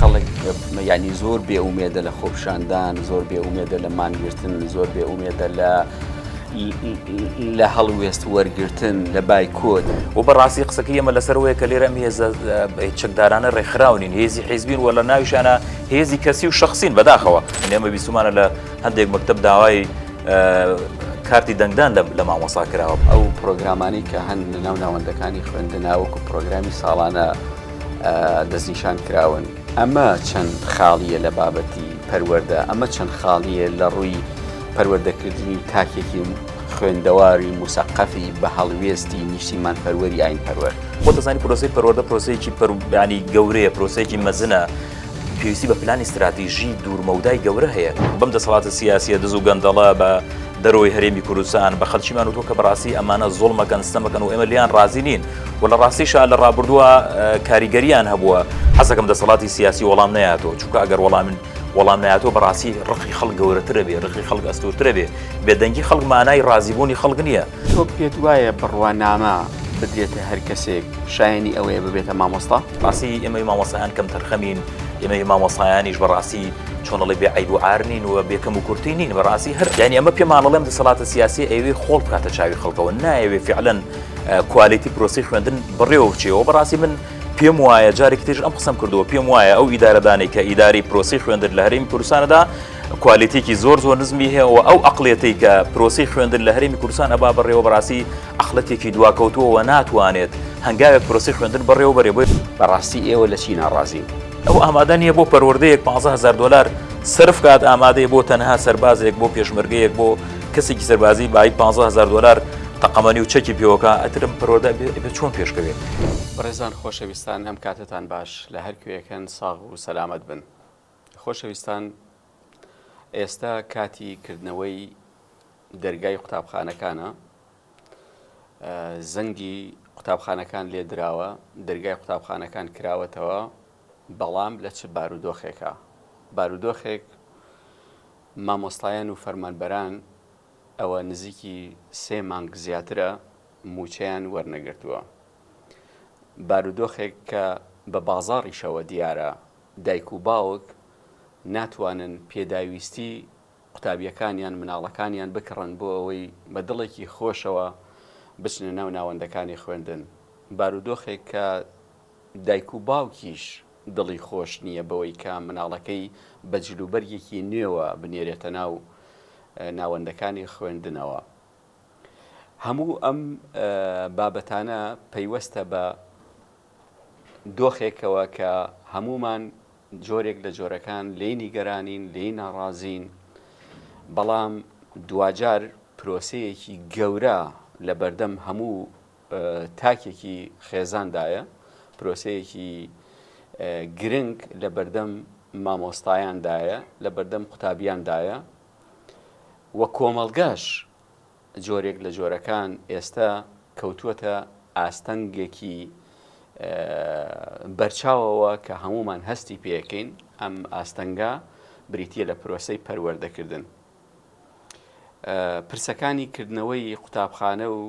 خەڵک یانی زۆر بێ ئومێدە لە خۆپشاندان زۆر بێ ئومێدە لە مانگرتن زۆر بێ ئومێدە لە لە هەڵوێست وەرگتن لە بایکۆت و بەڕاستی قسەکە ئەمە لەسەرەوەی کە لێرەم هێزە چەکدارانە ڕێکخراونین هێزی حیزبین وە لە ناویشانە هێزی کەسی و شخصین بەداخەوە ئێمە بیسومانە لە هەندێک مەکتب داوای کارتی دەنگدان لە مامۆسا کراوە ئەو پرۆگرامانی کە هەن لە ناو ناوەندەکانی خوێندناوەکو پرۆگرامی ساڵانە دەستنیشان کراون ئەمە چەند خاڵیە لە بابەتی پەروەەردە ئەمە چەند خاڵیە لە ڕووی پەروەردەکردنی تاکێکی خوێندەواری موسەقەفی بە هەڵوێستی نیشتیمان پەروەری ئاین پەروەر خۆ دەزانی پرۆسی پەروەەردە پرۆسەیەکی پەربیانی گەورەیە پرۆسەیەکی مەزنە پێویستی بە پلانی استراتیژی دوورمەودای گەورە هەیە بەم دەسەڵاتە سیاسیە دز و گەندەڵە بە دەرەوەی هەرێمی کوردستان بە خەلکیمان و تۆ کە بەڕاستی ئەمانە زۆڵمەکەن ستەمەکەن و ئێمە لیان ڕازی نین و لە ڕاستیشا لە ڕابردووە کاریگەریان هەبووە حەزەکەم دەسەڵاتی سیاسی وەڵام نایاتەوە چونکە ئەگەر وەڵامن وەڵام نایاتەوە بەڕاستی ڕقی خەڵ گەورەترە بێ ڕقی خەڵک ئەستورترە بێ بێدەنگی خەڵک مانای ڕازیبوونی خەڵک نییە تۆ پێت وایە بڕوانامە بدرێتە هەر کەسێک شایانی ئەوەیە ببێتە مامۆستا ڕاستی ئێمەی مامۆسایان کەم تەرخەمین ئێمەی مامۆسایانیش بەڕاستی چۆنڵی بێ عیب و عرنین و بێکەم و کورتی نین بەڕاستی هەر یانی ئەمە پێمانەڵێم دەسەڵاتە سیاسی ئەوێ خۆڵ بکاتە چاوی خەڵکەوە نایەوێ فعلەن کوالیتی پرۆسی خوێندن بڕێوە بچێەوە بەڕاستی من پێم وایە جارێک تێژ ئەم قسم کردووە پێم وایە ئەو ئیدارەدانی کە ئیداری پرۆسی خوێندن لە هەرمی کوردستانەدا کوالێتێکی زۆر زۆر نزمی هەیەەوە ئەو ئەقلێتی کە پرۆسی خوێندن لە هەرمی کوردستان ئەبا بەڕێوە بەڕاستی ئەخلەتێکی دواکەوتووەوە ناتوانێت هەنگاوێک پرۆسی خوێندن بەڕێوە بەرێ بۆی بەڕاستی ئێوە لە چی ناڕازین ئەو ئامادە نیە بۆ پەروەردەیەک 15هزار دلار سرف کات ئامادەی بۆ تەنها سەربازێک بۆ پێشمەرگەیەک بۆ کەسێکی سەربازی بای 15هزار دلار تەقەمەنی و چەکی پێوەکە ئەترم پەرۆدا بێ چۆن پێشکەوێت بەڕێزان خۆشەویستان هەم کاتتان باش لە هەر کوێەکەن ساغ و سەلامت بن خۆشەویستان ئێستا کاتی کردنەوەی دەرگای قوتابخانەکانە زەنگی قوتابخانەکان لێ دراوە دەرگای قوتابخانەکان کراوەتەوە بەڵام لە چ بارودۆخێکە بارودۆخێک مامۆستایان و فەرمانبەران ئەوە نزیکی سێ مانگ زیاترە مووچەیان وەرنەگرتووە. بارودۆخێک کە بە بازاڕیشەوە دیارە، دایک و باوک ناتوانن پێداویستی قوتابییەکانیان، مناڵەکانیان بکڕن بۆ ئەوەی بە دڵێکی خۆشەوە بچنە ناو ناوەندەکانی خوێندن. بارودۆخێک کە دایک و باوکیش دڵی خۆش نییە بەوەی کە منداڵەکەی بە جلوبەرگێکی نوێوە بنێرێتە ناو ناوەندەکانی خوێندنەوە. هەموو ئەم بابەتانە پەیوەستە بە دۆخێکەوە کە هەموومان جۆرێک لە جۆرەکان لێی نیگەرانین، لێی ناڕازین، بەڵام دواجار پرۆسەیەکی گەورە لە بەردەم هەموو تاکێکی خێزاندایە، پرۆسەیەکی گرنگ لە بەردەم مامۆستایاندایە، لە بەردەم قوتابیاندایە و کۆمەڵگاش جۆرێک لە جۆرەکان ئێستا کەوتووەتە ئاستەنگێکی بەرچاوەوە کە هەمومان هەستی پێەکەین ئەم ئاستەنگا بریتە لە پرۆسی پەروەردەکردن. پرسەکانی کردنەوەی قوتابخانە و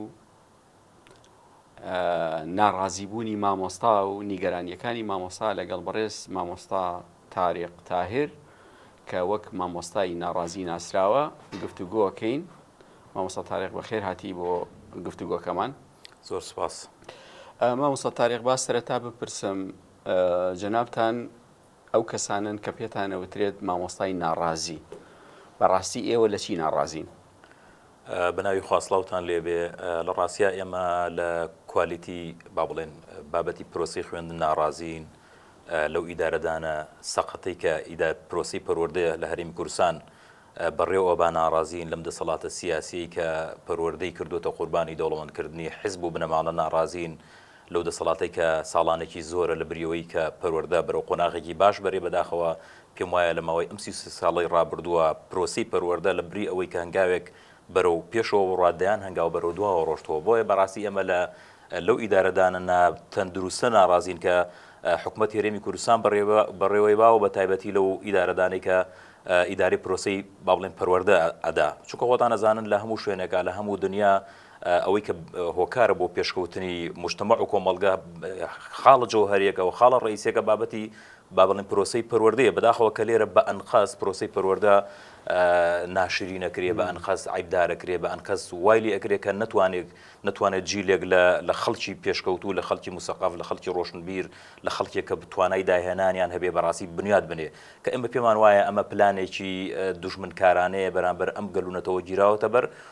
ناڕازیبوونی مامۆستا و نیگەرانیەکانی مامۆستا لەگەڵ بەڕێز مامۆستا تاریق تاهر کە وەک مامۆستای ناڕازی ناسراوە گفتوگۆکەین مامۆستا تاریق بەخێر هاتی بۆ گفتوگۆکەمان زۆر سپاس مامۆستا تاریق با سەرەتا بپرسم جەنابان ئەو کەسانەن کە پێتان ئەوترێت مامۆستای ناڕازی بەڕاستی ئێوە لە چی ناڕازین؟ بەناوی خوا سڵاوتان لێبێ لە ڕاستیا ئێمە لە کوالیتی با بڵێن بابەتی پرۆسی خوێندن ناڕازین لەو ئیدارەدانە سەقەتەی کە ئیدا پرۆسی پەروەردەیە لە هەریم کورسان بەڕێوە با ناڕازین لەم دەسەڵاتە سیاسی کە پەروەردەی کردوتە قوربانی دەوڵەمەندکردنی حزب و بنەماڵە ناڕازین لەو دەسەڵاتەی کە ساڵانێکی زۆرە لە بریەوەی کە پەروەردە بەرەو قۆناغێکی باش بەرێ بەداخەوە پێم وایە لە ماوەی ئەم سی و سێ ساڵەی ڕابردووە پرۆسەی پەروەردە لە بری ئەوەی کە هەنگاوێک بەرەو پێشەوە بڕوات دەیان هەنگاو بەرەو دواوە ڕۆشتووە بۆیە بەڕاستی ئێمە لە لەو ئیدارەدانە نا تەندروستە ناڕازین کە حکومەت هێرێمی کوردستان بەڕێوە بەڕێوەی باوە بە تایبەتی لەو ئیدارەدانەی کە ئیداری پرۆسی بابڵێن پەروەردە ئەدا چونکە خۆتان ئەزانن لە هەموو شوێنێکە لە هەموو دنیا ئەوەی کە هۆکارە بۆ پێشکەوتنی موجتەمەع و کۆمەڵگە خاڵە جەوهەریەکە و خاڵە ڕئیسیەکە بابەتی با بڵێین پرۆسەی پەروەردەیە بەداخەوە کە لێرە بە ئەنقەست پرۆسەی پەروەردە ناشرینەکرێ بە ئەنقەست عیبدارەکرێ بە ئەنقەست وایلی ئەکرێ کە نتوانێت نتوانێت جیلێک لە خەڵکی پێشکەوتوو لە خەڵکی مسەقاف لە خەڵکی ڕۆشنبیر لە خەڵکێک کە بتوانای داهێنانیان هەبێ بەڕاستی بنیاد بنێ کە ئێمە پێمان وایە ئەمە پلانێکی دوژمنکارانەیە بەرامبەر ئەم گەلوونەتەوە گیراوەتە بەر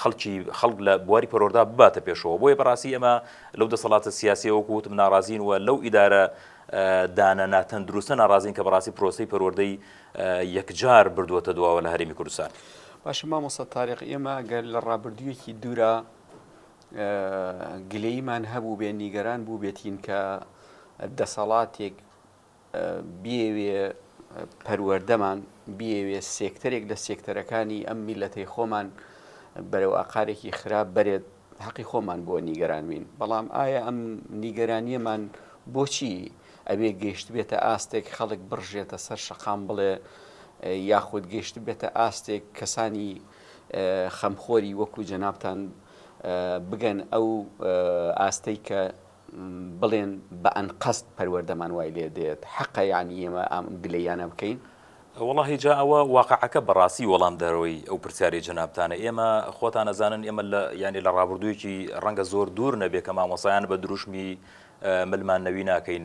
خەڵکی خەڵک لە بواری پەروەردە بباتە پێشەوە بۆیە بەڕاستی ئێمە لەو دەسەڵاتە سیاسیە وەکو وتم ناڕازین و لەو ئیدارە دانە ناتەندروستە ناڕازین کە بەڕاستی پرۆسی پەروەردەی یەکجار بردووەتە دواوە لە هەرێمی کوردستان باشە مامۆستا تاریق ئێمە گەر لە ڕابردوویەکی دوورە گلەیمان هەبوو بێ نیگەران بوو بێتین کە دەسەڵاتێک بیەوێ پەروەردەمان بیەوێ سێکتەرێک لە سێکتەرەکانی ئەم میلەتەی خۆمان بەرەو ئاقارێکی خراپ بەرێت حەقی خۆمان بۆ نیگەرانوین بەڵام ئایا ئەم نیگەرانیەمان بۆچی ئەوێ گەشت بێتە ئاستێک خەڵک بڕژێتە سەر شەقام بڵێ یاخود گەشت بێتە ئاستێک کەسانی خەمخۆری وەکو جەنابان بگەن ئەو ئاستەی کە بڵێن بە ئەنقەست پەروەردەمان وای لێ دێت حەقە یانی ئێمە ئەم گلەییانە بکەین؟ وەڵاهی جا ئەوە واقعەکە بەڕاستی وەڵام دەرەوەی ئەو پرسیارەی جەنابتانە ئێمە خۆتان ئەزانن ئێمە لە یانی لە ڕابردوویەکی ڕەنگە زۆر دوور نەبێ کە مامۆسایان بە دروشمی ملمان نەوی ناکەین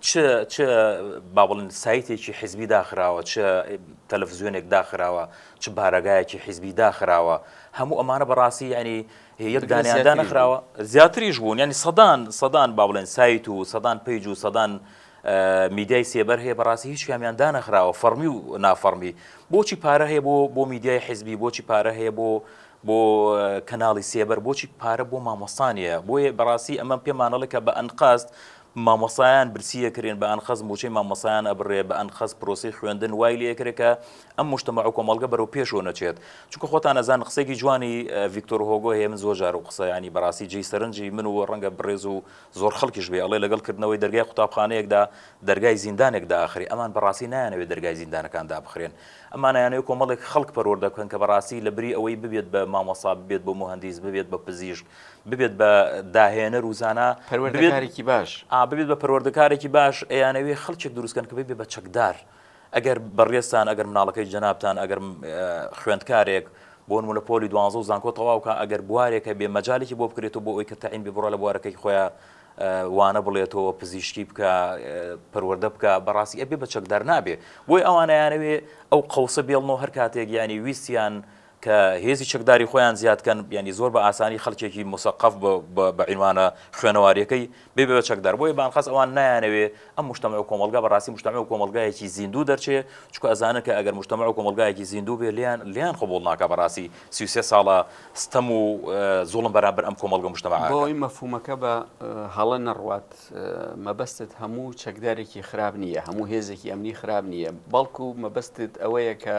چ چ با بڵێن سایتێکی حیزبی داخراوە چ تەلەفزیۆنێک داخراوە چ بارەگایەکی حیزبی داخراوە هەموو ئەمانە بەڕاستی ینی یەک دانیاندا نەخراوە زیاتریش بوون ینی سەدان سەدان با بڵێن سایت و سەدان پیج و سەدان میدیای سێبەر هەیە بەڕاستی هیچ کامیان دانەخراوە فەرمی و نافەرمی بۆچی پارە هەیە بۆ بۆ میدیای حیزبی بۆچی پارە هەیە بۆ بۆ کەناڵی سێبەر بۆچی پارە بۆ مامۆستانە بۆیە بەڕاستی ئەمە پێمانەڵێکە بە ئەنقاست مامۆستایان برسی ئەکرێن بە ئەنقەست موچەی مامۆستایان ئەبڕێ بە ئەنقەست پرۆسەی خوێندن وای لێ ئەکرێ کە ئەم موشتەمەع و کۆمەڵگە بەرەو پێشەوە نەچێت چونکە خۆتان ئەزان قسەیەکی جوانی ڤیکتۆر هۆگۆ هەیە من زۆر جار و قسە یانی بەڕاستی جێی سەرنجی من و ڕەنگە بڕێز و زۆر خەڵکیش بێ ئەڵێ لەگەڵ کردنەوەی دەرگای قوتابخانەیەکدا دەرگای زیندانێک دائەخرێ ئەمان بەڕاستی نایانەوێ دەرگای زیندانەکان دابخرێن ئەمان ئەیانەوێ کۆمەڵێک خەڵک پەروەردە بکەن کە بەڕاستی لەبری ئەوەی ببێت بە مامۆستا ببێت بە موهەندیس ببێت بە پزیشک ببێت بە داهێنەر و زانا پەروەردەکارێکی باش ببێت بە پەروەردەکارێکی باش ئەیانەوێ خەڵکێک دروستکەن کە بێ بە چەکدار ئەگەر بەڕێستان ئەگەر مناڵەکەی جەنابان ئەگەر خوێندکارێک بۆن و لە پۆلی دوانزە و زانکۆ تەواوکە ئەگەر بوارێکە بێ مەجالێکی بۆ بکرێتەوە بۆ ئەوی کە تەعین بێ بڕە لە بوارەکەی خۆیان وانە بڵێتەوە پزیشکی بکە پەروەەردە بکە بەڕاستی ئەبێ بە چەکدار نابێ بۆی ئەوانیانەوێ ئەو قوسە بێڵنەوە هەر کاتێک ینی ویستیان کە هێزی چەکداری خۆیان زیاد کەن یانی زۆر بە ئاسانی خەلکێکی موسەقەف بە عینوانە خوێنەواریەکەی ببێ بە چەکدار بۆیە بانقەس ئەوان نایانەوێ ئەم مشتەمە و کۆمەلگا بەڕاستی مشتەمە و کۆمەلگایەکی زیندوو دەرچێ چکو ئەزانن کە ئەگەر مشتەمە و کۆمەلگایەکی زیندوو بێ لیان لیان قبوڵ ناکا بەڕاستی سی و سێ ساڵە ستەم و زوڵم بەرامبەر ئەم کۆمەلگە و مشتەمە بۆ ئەوەی مەفهومەکە بە هەڵە نەڕوات مەبەستت هەموو چەکدارێکی خراپ نییە هەموو هێزێکی ئەمنی خراپ نییە بەڵکو مەبەستت ئەوەیە کە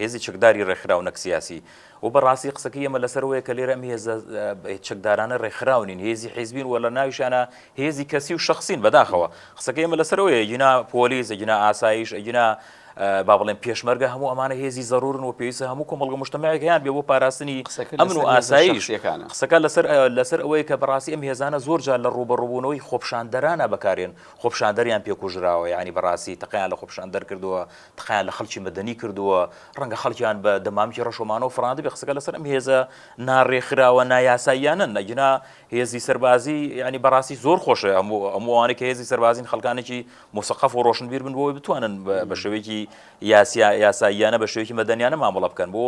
هێزی چەکداری ڕێکخراو نەک سیاسی. وە بە ڕاستی قسەکەی ئێمە لەسەر ئەوەیە کە لێرە ئەم هێزە چەکدارانە ڕێکخراو نین، هێزی حیزبین و لە ناویشیانا هێزی کەسی و شەخسین بەداخەوە. قسەکەی ئێمە لەسەر ئەوەیە ئەگینا پۆلیس، ئەگینا ئاسایش، ئەگینا با بڵێین پێشمەرگە هەموو ئەمانە هێزی زەرورن و پێویستە هەموو کۆمەڵگە و مشتەمەیەک هەیان بێ بۆ پاراستنی ئەمن و ئاسایش. قسەکە لەسەر لەسەر ئەوەیە کە بەڕاستی ئەم هێزانە زۆر جار لە ڕووبەڕووبوونەوەی خۆپیشاندەرانە بەکارێن خۆپیشاندەریان پێ کوژراوە یانی بەڕاستی تەقەیان لە خۆپیشاندەر کردووە تقە لە خەڵکی مەدەنی کردووە، ڕەنگە خەڵکیان بە دەمامکی ڕەش و مانەوە فڕاندبێ، قسەکە لەسەر ئەم هێزە ناڕێکخراوە نایاساییانەن، ئەگینا هێزی سەربازی یانی بەڕاستی زۆر خۆشە هەموو ئەوانەی کە هێزی سەربازین خەڵکانێکی موسەقەف و ڕۆشنبیر بن بۆی بتوانن بە شێوەیەکی یاسیا یاساییانە بە شێوەیەکی مەدەنیانە مامەڵە بکەن بۆ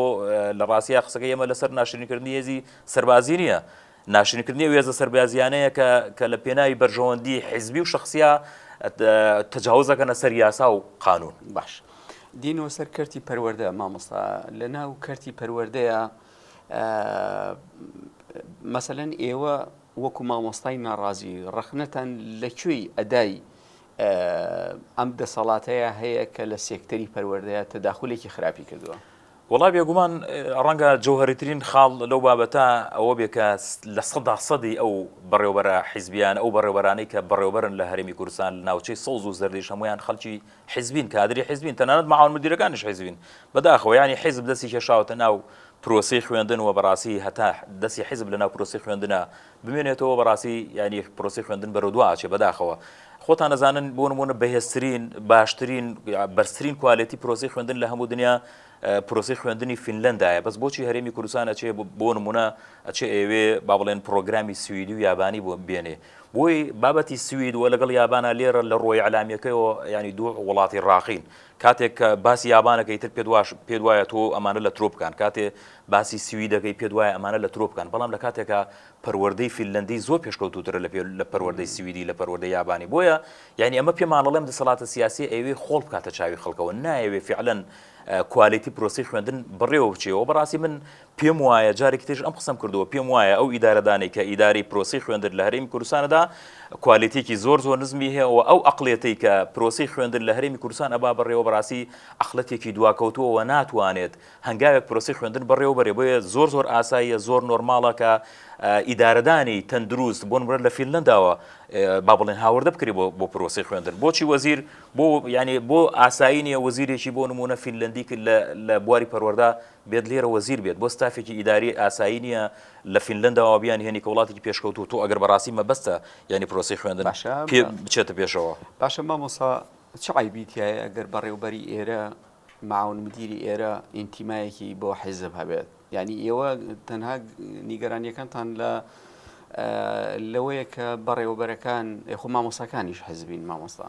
لە ڕاستیا قسەکە ئێمە لەسەر ناشرینکردنی هێزی سەربازی نییە ناشرینکردنی ئەو هێزە سەربازییانەیە کە کە لە پێناوی بەرژەوەندی حیزبی و شخصیە تجاوز دەکەنە سەر یاسا و قانون. باش دینەوە سەر کەرتی پەروەردە مامۆستا لە ناو کەرتی پەروەردەیە مەسەلەن ئێوە وەکو مامۆستای ناڕازی ڕەخنەتان لە کوێی ئەدای ئەم دەسەڵاتەیە هەیە کە لە سێکتەری پەروەردەیە تەداخولێکی خراپی کردووە وەڵا بێگومان ڕەنگە جەوهەریترین خاڵ لەو بابەتە ئەوە بێ کە لە سەدا سەدی ئەو بەڕێوبەرە حیزبیان ئەو بەڕێوبەرانەی کە بەڕێوبەرن لە هەرێمی کوردستان ناوچەی سەوز و زەردیش هەمویان خەلکی حیزبین کادری حیزبین تەنانەت مەعاون مدیرەکانیش حیزبین بەداخەوە یانی حیزب دەستی کێشاوەتە ناو پرۆسەی خوێندن و بەڕاستی هەتا دەسی حیزب لە ناو پرۆسەی خوێندنە بمێنێتەوە بەڕاستی یانی پرۆسی خوێندن بەرەو دو ئاچێ بەداخەوە خۆتان نەزانن بۆ نمونە بەهێزترین باشترین بەرزترین کوالێتی پرۆسی خوێندن لە هەموو دنیا پرۆسی خوێندنی فینلندایە بەس بۆچی هەرێمی کوردستان ئەچێ بۆ نمونە ئەچێ ئێوێ با بڵێن پرۆگرامی سوئدی و یابانی بۆ بێنێ بۆی بابەتی سوید وە لەگەڵ یابانە لێرە لە ڕۆی علامیەکەیەوە ینی دوو وڵاتی ڕاقین کاتێک کە باسی یابان ئەکەی تر پێت واش پێت وایە تۆ ئەمانە لە ترۆ بکان کاتێ باسی سوید دەکەی پێت وایە ئەمانە لە ترۆ بکان بەڵام لە کاتێکا پەروەردەی فیللەندی زۆر پێشکەوتووترە لە پێ لە پەروەردەی سویدی لە پەروەردەی یابانی بۆیە یانی ئەمە پێمان ئەڵێم دەسەڵاتە سیاسیە ئەیەوێ خۆڵ بکاتە چاوی خەڵکەوە نایەوێ فعلەن کوالیتی پرۆسەی خوێندن بەڕێوە بچێەوە بەڕاستی من پێم وایە جارێکی تریش ئەم قسەم کردووە پێم وایە ئەو ئیدارەدانەی کە ئیدارەی پرۆسی خوێندن لە هەرێمی کوردستانەدا کوالێتێکی زۆر زۆر نزمی هەیە و ئەو ئەقلێتی کە پرۆسی خوێندن لە هەرێمی کوردستان ئەبا بەڕێوە بەڕاستی ئەقلەتێکی دواکەوتووەوە ناتوانێت هەنگاوێک پرۆسی خوێندن بەڕێوە بەرێ بۆیە زۆر زۆر ئاساییە زۆر نۆرماڵە کە ئیدارەدانی تەندروست بۆن برە لە فیلنداوە با بڵێن هاوردە بکری بۆ پرۆسی خوێندن بۆچی وەزیر بۆ ینی بۆ ئاسایی نیە وەزیرێکی بۆ نمونە فیلندی کرد لە بواری پەروەەردا بێت لێرە وەزیر بێت بۆ ستافێکی ئیداری ئاسایی نیە لە فینلەنداوە بیانهێنی کە وڵاتێکی پێشکەوتوو تۆ ئەگەر بەڕاستی مەبەستە یانی پرۆسەی خوێندن باشە پێ بچێتە پێشەوە. باشە مامۆسا چ عەیبی تیایە گەر بەڕێوبەری ئێرە معاون مدیری ئێرە ئینتیمایەکی بۆ حیزب هەبێت یانی ئێوە تەنها نیگەرانیەکانتان لە لەوەیە کە بەڕێوەبەرەکان یخۆ مامۆساکانیش حیزبین مامۆستا؟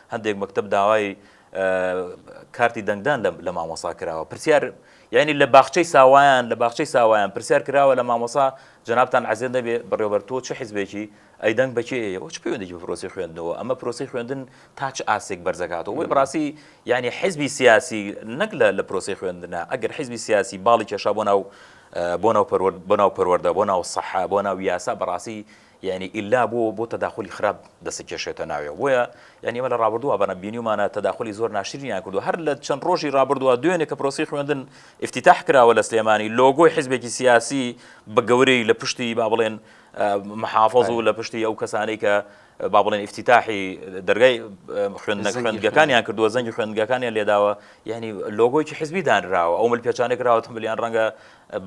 هەندێک مەکتەب داوای کارتی دەنگدان لە مامۆسا کراوە پرسیار یعنی لە باخچەی ساوایان لە باخچەی ساوایان پرسیار کراوە لە مامۆسا جنابان عزیێن دەبێ بڕێوبەر تۆ چه حزبێکی ئەی دەنگ بەچێ ئەوە چ پێوەندێکی پرۆسی خوێندنەوە ئەمە پرۆسی خوێندن تا چ ئاسێک بەرزەکاتەوە وی بڕاستی یعنی حزبی سیاسی نەک لە لە پرۆسی خوێندنە ئەگەر حزبی سیاسی باڵی کێشا بۆ ناو بۆ ناو پەروەرد بۆ ناو پەروەەردە بۆ ناو سەحا بۆ ناو یاسا بەڕاستی یانی ئیلا بۆ بۆ تەداخولی خراپ دەستی کێشێتە ناوێ بۆیە یانی ئێمە لە ڕابردووە بەرە بینیومانە تەداخولی زۆر ناشرینیان کردو هەر لە چەند ڕۆژی ڕابردووە دوێنێ کە پرۆسی خوێندن ئیفتیتاح کراوە لە سلێمانی لۆگۆی حزبێکی سیاسی بە گەورەی لە پشتی با بڵێن محافظ و لە پشتی ئەو کەسانەی کە با بڵێن ئفتیتاحی دەرگای خوێندنە خوێندگەکانیان کردووە زەنگی خوێندگەکانیان لێداوە یعنی لۆگۆیکی حزبی دانراوە ئەو مل پێچانێک راوە تمبلیان ڕەنگە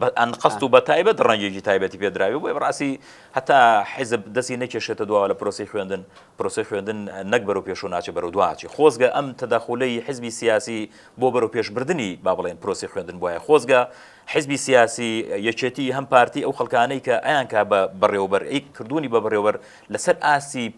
بە ئەنقەست و بە تایبەت ڕەنگێکی تایبەتی پێدراوی بۆیە بەڕاستی هەتا حیزب دەستی نەکێشێتە دواوە لە پرۆسی خوێندن پرۆسی خوێندن نەک بەرەو پێشو ناچێت بەرەو دواچی خۆزگە ئەم تەداخولەی حزبی سیاسی بۆ بەرەو پێشبردننی با بڵێن پرۆسی خوێندن بۆیە خۆزگە حزبی سیاسی یەکێتی هەم پارتی ئەو خەکانەی کە ئەیانکە بە بەڕێوبەر ئەی کردوونی بە بڕێوەر لەسەر ئاسی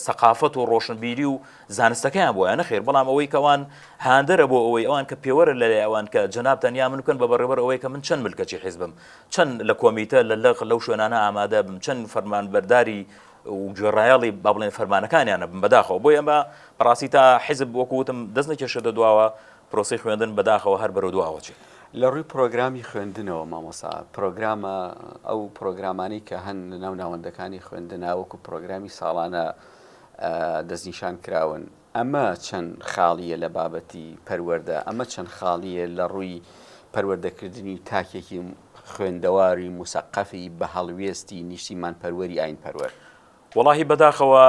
سەقافەت و ڕۆشنبیری و زانستەکەیان بۆیان نەخێر بەڵام ئەوەی کەوان هاندەرە بۆ ئەوەی ئەوان کە پێوەرە لەلای ئەوان کە جەناب تەنیا من بکەن بە بەڕێوەبەر ئەوەی کە من چەند ملکەچی حیزبم چەند لە کۆمیتە لە لەق لەو شوێنانە ئامادە بم چەند فەرمانبەرداری و گوێڕایەڵی با بڵێن فەرمانەکانیانە بم بەداخەوە بۆ ئەمە بەڕاستی تا حیزب وەکوتم دەست نەکێشێتە دواوە پرۆسی خوێندن بەداخەوە هەر بەرەو دواوە چێت لە ڕووی پرۆگرامی خوێندنەوە مامۆسا پرۆگرامە ئەو پرۆگرامانی کە هەن لە ناو ناوەندەکانی خوێندناوەکو پرۆگرامی ساڵانە دەستنیشان کراون، ئەمە چەند خاڵییە لە بابەتی پەروەردە، ئەمە چەند خاڵییە لە ڕووی پەروەردەکردنی تاکێکی خوێندەواری موسەقەفی بە هەڵوێستی نیشتیمانپەروەری ئایینپەروەر. وەڵاهی بەداخەوە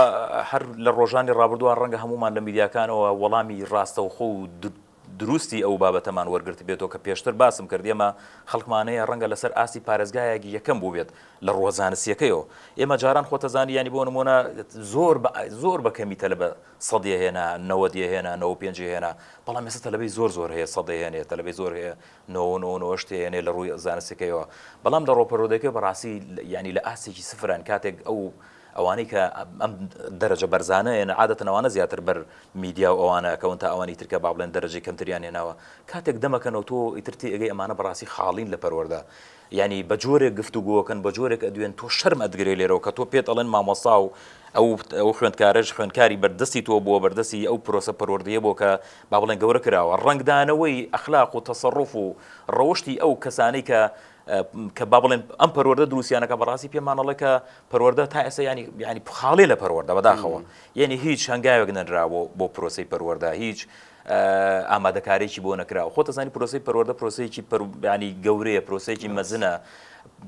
هەر لە ڕۆژانی ڕابردووە ڕەنگە هەموومان لە میدیاکانەوە وەڵامی ڕاستەوخۆ و دروستی ئەو بابەتەمان وەرگرتبێتەوە کە پێشتر باسم کرد، ئێمە خەڵکمان هەیە ڕەنگە لەسەر ئاستی پارێزگایەک یەکەم بووبێت لە ڕووە زانستییەکەیەوە، ئێمە جاران خۆتەزانی یانی بۆ نموونە زۆر بە زۆر بە کەمی تەلەبە سەد یەهێنا، نەوەد یەهێنا، نەوەد و پێنج یەهێنا، بەڵام ئێستا تەلەبەی زۆر زۆر هەیە سەد یەهێنێ، تەلەبەی زۆر هەیە نەوە و نەوە و نەوە و هەشت یەهێنێ لە ڕووی زانستییەکەیەوە، بەڵام لە ڕووە پەروەردەیەکەوە بەڕاستی یانی لە ئاستێکی سفرن کاتێک ئەو ئەوانەی کە ئەم دەرەجە بەرزانە هێنا عادەتەن ئەوانە زیاتر بەر میدیا و ئەوانە ئەکەون تا ئەوانی تر کە با بڵێن دەرەجەی کەمتریان هێناوە کاتێک دەمەکەنەوە تۆ ئیتر تێئەگەی ئەمانە بەڕاستی خاڵین لە پەروەردە یانی بە جۆرێک گفتوگۆکەن بە جۆرێک ئەدوێن تۆ شەرم ئەتگرێ لێرەوە کە تۆ پێت ئەڵێن مامۆستا و ئەو ئەو خوێندکارەش خوێندکاری بەردەستی تۆ بووە بەردەستی ئەو پرۆسە پەروەردەیە بۆ کە با بڵێن گەورە کراوە ڕەنگدانەوەی ئەخلاق و تەسەڕوف و ڕەوشتی ئەو کەسانەی کە کە با بڵێن ئەم پەروەەردە دروستیانەکە بەڕاستی پێمانەڵێ کە پەروەەردە تا ئێستا ینی ینی خاڵێ لە پەروەەردە بەداخەوە یعنی هیچ هەنگاوێک نەنراوە بۆ پرۆسی پەروەەردە هیچ ئامادەکارێکی بۆ نەکراوە خۆ تەزانی پرۆسی پەروەەردە پرۆسەیەکی پەربیانی گەورەیە پرۆسەیەکی مەزنە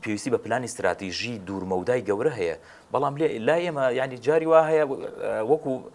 پێویستی بە پلانی استراتیژی دوورمەودای گەورە هەیە بەڵام لێ لا ئێمە ینی جاری وا هەیە وەکو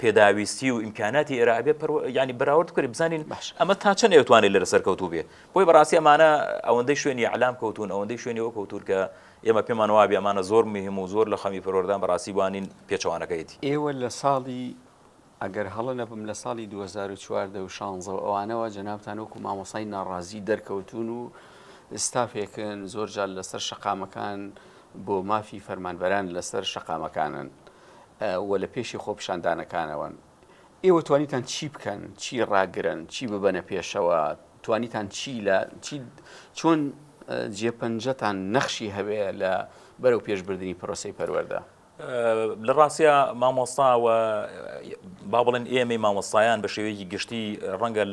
پێداویستی و ئیمکاناتی ئێرە ئەبێ پەرو یانی بەراورد بکەین بزانین ئەمە تا چەند ئەتوانێت لەرە سەرکەوتوو بێ بۆی بەڕاستی ئەمانە ئەوەندەی شوێنی ئەلام کەوتون ئەوەندەی شوێنی ئەو کەوتور کە ئێمە پێمان وابێ ئەمانە زۆر مهم و زۆر لە خەمی پەروەردان بەڕاستی بوانین پێچەوانەکەیەتی ئێوە لە ساڵی ئەگەر هەڵە نەبم لە ساڵی 2014 و شانزە و ئەوانەوە جەنابتان وەکو مامۆسای ناڕازی دەرکەوتون و ستافێکن زۆر جار لەسەر شەقامەکان بۆ مافی فەرمانبەران لەسەر شەقامەکانن و لە پێشی خۆپیشاندانەکانەوەن، ئێوە توانیتان چی بکەن، چی ڕاگرن، چی ببەنە پێشەوە، توانیتان چی لە چی چۆن جێپەنجەتان نەخشی هەبێ لە بەرەو پێش بردنی پرۆسەی پەروەردە؟ لە ڕاستیا مامۆستا و با بڵێن ئێمەی مامۆستایان بە شێوەیەکی گشتی ڕەنگە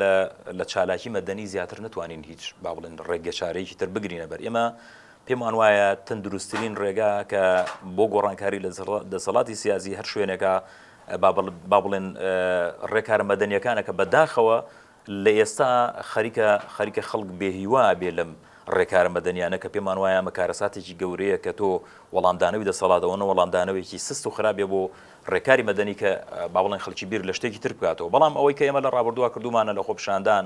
لە چالاکی مەدەنی زیاتر نتوانین هیچ با بڵێن ڕێگەچارەیەکی تر بگرینە بەر ئێمە پێمان وایە تەندروستترین ڕێگا کە بۆ گۆڕانکاری لە دەسەڵاتی سیاسی هەر شوێنێکە با بڵێن ڕێکارە مەدەنیەکانە کە بەداخەوە لە ئێستا خەریکە خەریکە خەڵک بێهیوا بێ لەم ڕێکارە مەدەنیانە کە پێمان وایە ئەمە کارەساتێکی گەورەیە کە تۆ وەڵامدانەوەی دەسەڵاتەوەە وەڵامدانەوەیکی سست و خراپێ بۆ ڕێکاری مەدەنی کە باوڵێن خەڵکی بیر لە شتێکی تر بکاتەوە بەڵام ئەوەی کە ئێمە لە ڕابردووە کردومانە لە خۆپشاندان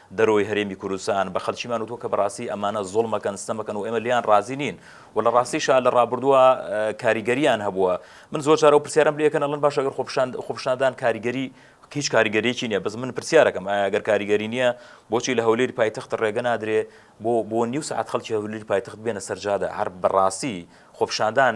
دەرەوەی هەرێمی کوردستان بە خەلکیمان وتوە کە بەڕاستی ئەمانە زوڵمەکەن ستەمەکەن و ئێمە لێیان ڕازی نین و لە ڕاستیشا لە ڕابوردوە کاریگەریان هەبوە من زۆر جار ئەو پرسیارەم لێ ئەکەن ئەڵێن باشە گەر خۆپیشان خۆپیشاندان کاریگەری هیچ کاریگەریەکی نیە بەس من پرسیارەکەم ئایا گەر کاریگەری نیە بۆچی لە هەولێری پایتەخت ڕێگە نادرێ بۆ بۆ نیو سەعات خەلکی هەولێری پایتەخت بێنە سەر جادە هەر بەڕاستی خۆپیشاندان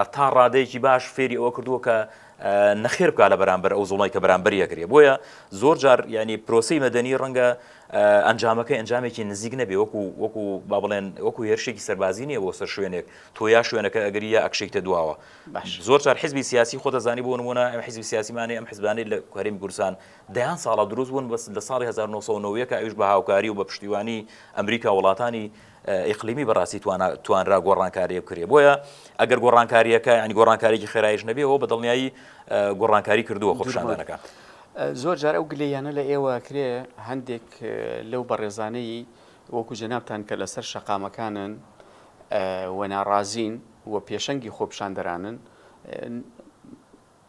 هەتا ڕادەیەکی باش فێری ئەوە کردووە کە نەخێر بکا لە بەرامبەر ئەو زوڵمەی کە بەرامبەری ئەگرێ بۆیە زۆر جار ینی پرۆسی مەدەنی ڕەنگە ئەنجامەکەی ئەنجامێکی نزیک نەبێ وەکو وەکو با بڵێن وەکو هێرشێکی سەربازی نیە بۆ سەر شوێنێک تۆ یا شوێنەکە ئەگری یا ئەکشێکتە دواوە زۆر جار حزبی سیاسی خۆ دەزانی بۆ نمونە ئەم حزبی سیاسیمانی ئەم حزبانی لە کوهریم گورسان دەیان ساڵە دروست بوون بەس لە ساڵی 1990 کە ئەوش بە هاوکاری و بە پشتیوانی ئەمریکا وڵاتانی ئیقلیمی بەڕاستی توانا توانرا گۆڕانکاریی بکرێ بۆیە ئەگەر گۆڕانکارییەکە یانی گۆڕانکاریی خێرایش نەبێ ئەوە بە دڵنیایی گۆڕانکاری کردووە خۆپیشاندانەکە. زۆر جار ئەو گلەییانە لە ئێوە کرێ هەندێک لەو بەڕێزانەی وەکوو جەنابتان کە لەسەر شەقامەکانن و ناڕازین و پێشەنگی خۆپیشاندەرانن،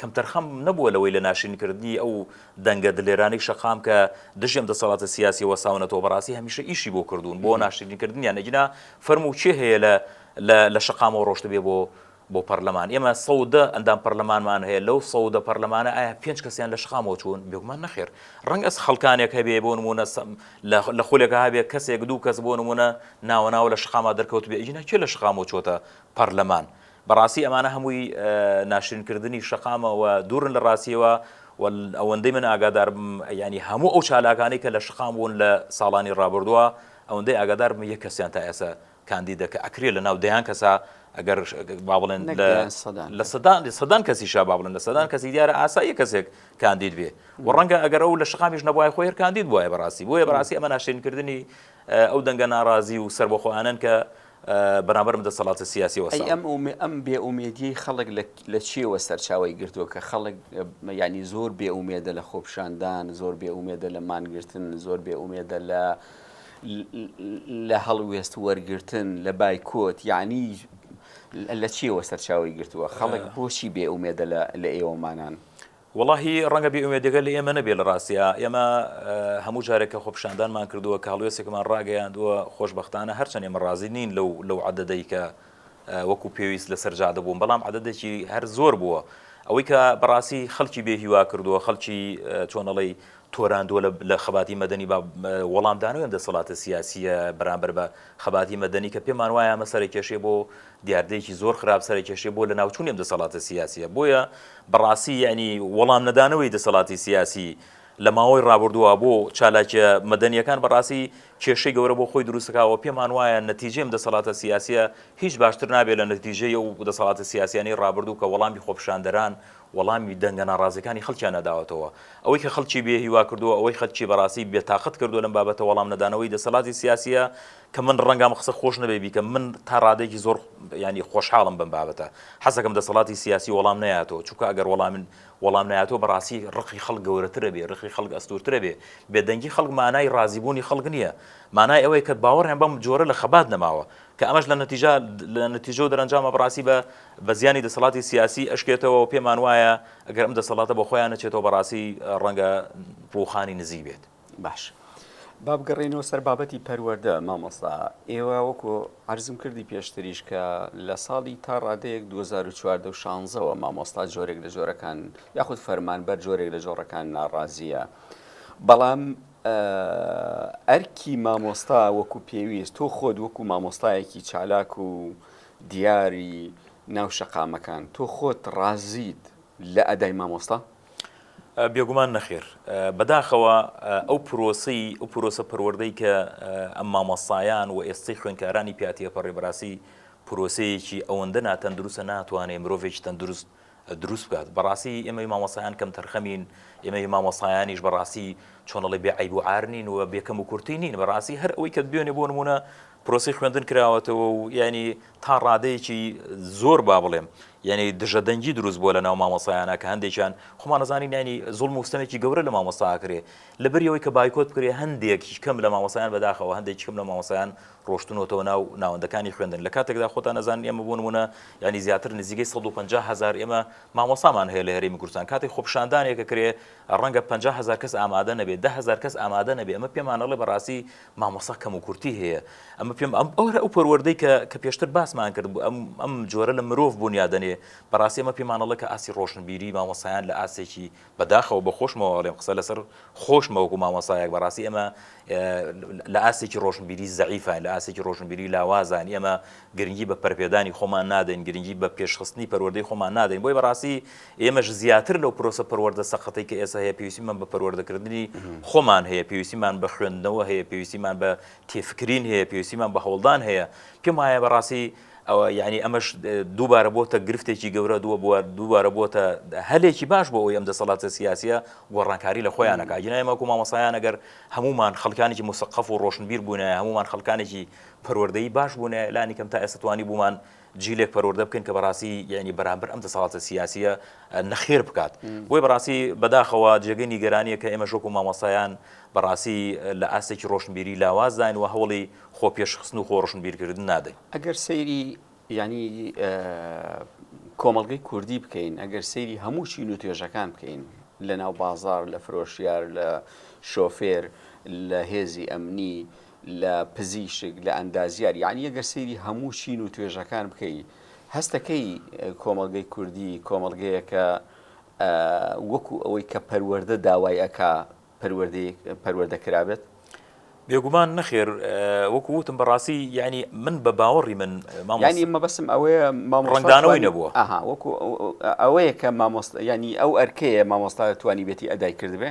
کەمتەرخەم نەبووە لەوەی لە ناشرینکردنی ئەو دەنگە دلێرانەی شەقام کە دژی ئەم دەسەڵاتە سیاسییە وەستاونەتەوە بەڕاستی هەمیشە ئیشی بۆ کردوون بۆ ناشرینکردنیان ئیجنا فەرموو کێ هەیە لە لە لە شەقامەوە ڕۆشتبێ بۆ بۆ پەرلەمان ئێمە سەد و دە ئەندام پەرلەمانمان هەیە لەو سەد و دە پەرلەمانە ئایا پێنج کەسیان لە شەقامەوە چوون بێگومان نەخێر ڕەنگە خەڵکانێک هەبێ بۆ نموونە سەم لە لە خولێکە هەبێ کەسێک دوو کەس بۆ نموونە ناوە ناوە لە شەقامە دەرکەوتبێ ئیجنا کێ لە شەقامەوە چووەتە پەرلەمان بەڕاستی ئەمانە هەمووی ناشرین کردنی شەقامە و دوورن لە ڕاستیەوە و ئەوەندەی من ئاگاداربم یعنی هەموو ئەو چالاکانی کە لە شقام بوون لە ساڵانی ڕابردووە ئەوەندەی ئاگاداربم یەک کەسیان تا ئێستا کاندیدە کە ئەکرێ لە ناو دەیان کەسا ئەگەر با بڵێن نەک لە دەیان سەدان لە کەس. سەدان لە سەدان کەسی شا با بڵێن لە سەدان کەسی دیارە ئاساییە کەسێک کاندید بێ و ڕەنگە ئەگەر ئەو لە شقامیش نەبوایە خۆی هەر کاندید بوایە بەڕاستی بۆیە بەڕاستی ئەمە ناشرین کردنی ئەو دەنگە ناڕازی و سەربەخۆانەن کە بەرامبەر دەسەڵاتە سیاسیەوە ساڵ. ئەی ئەم بێ ئومێدیەی خەڵک لە چیەوە سەرچاوەی گرتووە کە خەڵک یانی زۆر بێ ئومێدە لە خۆپیشاندان زۆر بێ ئومێدە لە مانگرتن زۆر بێ ئومێدە لە لە هەڵوێست وەرگرتن لە بایکۆت یعنی لە چیەوە سەرچاوی گرتووە خەڵک بۆچی بێ ئومێدە لە ئێوەمانان وەڵاهی ڕەنگە بێ ئومێدەکە لە ئێمە نەبێ لە ڕاستیا ئێمە هەموو جارێک کە خۆپیشاندانمان کردووە کە هەڵوێستێکمان ڕاگەیاندووە خۆشبەختانە هەرچەند ئێمە ڕازی نین لەو لەو عەدەدەی کە وەکو پێویست لەسەر جادە بوون بەڵام عەدەدێکی هەر زۆر بووە ئەوەی کە بەڕاستی خەڵکی بێ هیوا کردووە خەڵکی چۆنەڵی تۆراندووە لە خەباتی مەدەنی بە وەڵامدانەوەم دەسەڵاتە سیاسیە بەرامبەر بە خەباتی مەدەنی کە پێمان وایە مەسەرە کێشێ بۆ دیاردەیەکی زۆر خراپ سەرەکێشەی بۆ لەناوچونی ئەم دەسەڵاتە سیاسیە بۆیە بەڕاستی یەعنی وەڵام نەدانەوەی دەسەڵاتی سیاسی لەماوەی ڕابردووە بۆ چالاکیە مەدەنیەکان بەڕاستی کێشەی گەورە بۆ خۆی دروستکاوە پێمان وایە نەتیجەی ئەم دەسەڵاتە سیاسیە هیچ باشتر نابێت لە نەتیجەی ئەو دەسەڵاتە سیاسیانەی ڕابردوو کە وەڵامی خۆپیشاندەران وەڵامی دەنگە ناڕازیەکانی خەڵکیان نەداوەتەوە ئەوەی کە خەڵکی بێ هیوا کردووە ئەوەی خەڵکی بەڕاستی بێتاقەت کردووە لەم بابەتە وەڵام نەدانەوەی دەسەڵاتی سیاسیە کە من ڕەنگە ئەم قسە خۆش نەبێ بیکەم، من تا ڕادەیەکی زۆر یانی خۆشحاڵم بەم بابەتە، حەزەکەم دەسەڵاتی سیاسی وەڵام نەیاتەوە، چونکە ئەگەر وەڵام وەڵام نەیاتەوە بەڕاستی ڕقی خەڵک گەورەتر ئەبێ، ڕقی خەڵک ئەستوورتر ئەبێ، بێدەنگی خەڵک مانای ڕازیبوونی خەڵک نییە، مانای ئەوەیە کە باوەڕیان بەم جۆرە لە خەبات نەماوە، کە ئەمەش لە نەتیجە لە نەتیجە و دەرەنجامە بەڕاستی بە بە زیانی دەسەڵاتی سیاسی ئەشکێتەوە و پێمان وایە ئەگەر ئەم دەسەڵاتە بە خۆیان نەچێتەوە بەڕاستی ڕەنگە ڕووخانی نزیک بێت. باش با بگەڕێینەوە سەر بابەتی پەروەردە مامۆستا ئێوە وەکو عرضم کردی پێشتریش کە لە ساڵی تا ڕادەیەک 2014 مامۆستا جۆرێک لە جۆرەکان یاخود فەرمان بەر جۆرێک لە جۆڕەکان ناڕازیە بەڵام ئەرکی مامۆستا وەکو پێویست تۆ خۆت وەکو مامۆستایەکی چالاک و دیاری ناو شەقامەکان تۆ خۆت ڕازیت لە ئەدای مامۆستا بێگومان نەخێر. بەداخەوە ئەو پرۆسەی، ئەو پرۆسە پەروەردەی کە ئەم مامۆستایان و ئێستەی خوێندکارانی پیا تێپەڕی بەڕاستی پرۆسەیەکی ئەوەندە ناتەندروستە ناتوانێ مرۆڤێکی تەندروست دروست بکات. بەڕاستی ئێمەی مامۆستایان کەمتەرخەمین، ئێمەی مامۆستایانیش بەڕاستی چۆن ئەڵێ بێ عەیب و عار نین و بێ کەموکورتی نین. بەڕاستی هەر ئەوەی کە دوێنێ بۆ نموونە پرۆسەی خوێندن کراوەتەوە و یانی تا ڕادەیەکی زۆر با بڵێم یعنی دژە دەنگی دروست بووە لە ناو مامۆسایانە کە هەندێکیان خۆمانەزانانی نانی زۆڵ مستەمێکی گەورە لە مامۆستا کرێ لە بریەوەی کە بایکۆت بکرێ هەندێک کەم لە مامۆسایان بەداخەوە هەندێک کەم لە مامۆسایان ڕۆشتنەوە ناو ناوەندەکانی خوێندن لە کاتێکدا خۆتان نەزان ئێمە بوون بوونە ینی زیاتر نزیگەی 150 هزار ئێمە مامۆسامان هەیە لە هەرێمی کوردستان کاتی خۆپشاندانێکە کرێ ڕەنگە 500 کەس ئامادە نەبێت دههزار کەس ئامادە نەبێ ئەمە پێمانەڵێ بەڕاستی مامۆستا کەم و کورتی هەیە ئەمە پێم ئەم ئەوە ئەو پەروەردەی کە کە پێشتر باسمان کرد بوو ئەم ئەم جۆرە لە مرۆڤ بونیا دەنێ بەڕاستی ئەمە پێمانەڵە کە ئاسی ڕۆشنبیری مامۆسایان لە ئاسێکی بەداخەوە بە خۆشمەوەڵێم قسە لەسەر خۆشمەوەکو مامۆسایەک بەڕاستی ئەمە لە ئاسێکی ڕۆشنبیری زەعیفان لە ئاسێکی ڕۆشنبیری لاوازان ئێمە گرنگی بە پەرپێدانی خۆمان نادەین گرنگی بە پێشخستنی پەروەردەی خۆمان نادەین بۆی بەڕاستی ئێمەش زیاتر لەو پرۆسە پەروەردە سەقەتەی کە ئێستا هەیە پێویستیمان بە پەروەردەکردنی خۆمان هەیە، پێویستیمان بە خوێندنەوە هەیە، پێویستیمان بە تێفکرین هەیە، پێویستیمان بە هەوڵدان هەیە، پێم وایە بەڕاستی ئەوە یانی ئەمەش دووبارە بۆتە گرفتێکی گەورە دووە بووە دووبارە بۆتە هەلێکی باش بۆ ئەوی ئەم دەسەڵاتە سیاسە گۆڕانکاری لە خۆیانەکە گینایمەکو مامەسایان ئەگەر هەمومان خەڵکانێکی مسەقف و ڕۆشنبیر بوونە هەمومان خەڵکانێکی پەروەردەی باش بوونە لانی کەم تا ئێستاتوانی بوومان جیلێک پەروەردە بکەین کە بەڕاستی یانی بەرامبەر ئەم دەسەڵاتە سیاسییە نەخێر بکات بۆی بەڕاستی بەداخەوە جێگەی نیگەرانیە کە ئێمە شۆک و مامۆستایان بەڕاستی لە ئاستێکی ڕۆشنبیری لاوازداین و هەوڵی خۆ پێشخستن و خۆ ڕۆشنبیرکردن نادەین ئەگەر سەیری ینی کۆمەلگەی کوردی بکەین ئەگەر سەیری هەموو چین و توێژەکان بکەین لە ناو بازار لە فرۆشیار لە شۆفێر لە هێزی ئەمنی لە پزیشک، لە ئەندازیار، یەعنی ئەگەر سەیری هەموو چین و توێژەکان بکەی هەستەکەی کۆمەڵگەی کوردی کۆمەڵگەیەکە وەکو ئەوەی کە پەروەردە داوای ئەکا پەروەردەیەک پەروەردە کرابێت؟ بێگومان نەخێر وەکو وتم بەڕاستی یعنی من بە باوەڕی من مامانی مەبەسم ئەوەیە مامڕنگدانەوەی نەبووە ئەها وەکو ئەوەیە کە مامۆست ینی ئەو ئەرکەیە مامۆستا توانی بێتی ئەدای کردبێ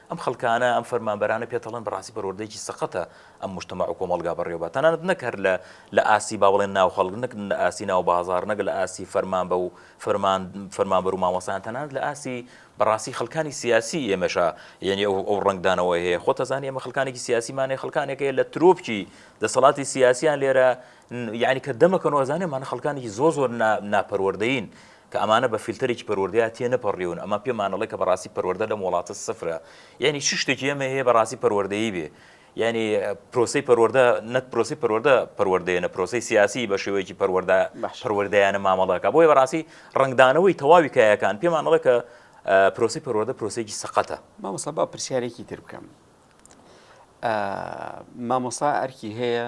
ئەم خەڵکانە، ئەم فەرمانبەرانە پێتەڵن بەڕاستی پەروەردەیەکی سەقەتە ئەم موجتەمەع و کۆمەڵگا بەڕێوەبا تەنانەت نەک هەر لە لە ئاستی با بڵێن ناو خەڵک نەک لە ئاستی ناو بازاڕ نەک لە ئاستی فەرمانبە و فەرمان فەرمانبەر و مامۆستایان تەنانەت لە ئاستی بەڕاستی خەڵکانی سیاسی ئێمەشا یەنی ئەو ئەو ڕەنگدانەوەی هەیە خۆت ئەزانی ئێمە خەڵکانێکی سیاسی مانێ خەڵکانێک هەیە لە ترۆپکی دەسەڵاتی سیاسیان لێرە یەنی کە دەمەکەنەوە ئەزانێ مانە خەڵکانێکی زۆر زۆر نا ناپەروەردەین کە ئەمانە بە فیلتەرێکی پەروەردەیا تێ نەپەڕیون ئەمە پێمان ئەڵێ کە بەڕاستی پەروەردە لەم وڵاتە سفرە یانی چ شتێکی ئەمە هەیە بەڕاستی پەروەردەیی بێ یانی پرۆسی پەروەردە نەت پرۆسی پەروەردە پەروەردەیە نە پرۆسی سیاسی بە شێوەیەکی پەروەردە پەروەردەیانە مامەڵەکە بۆیە بەڕاستی ڕنگدانەوەی تەواوی کایەکان پێمان ئەڵێ کە پرۆسی پەروەردە پرۆسێکی سەقەتە مامۆسا با پرسیارێکی تر بکەم مامۆسا ئەرکی هەیە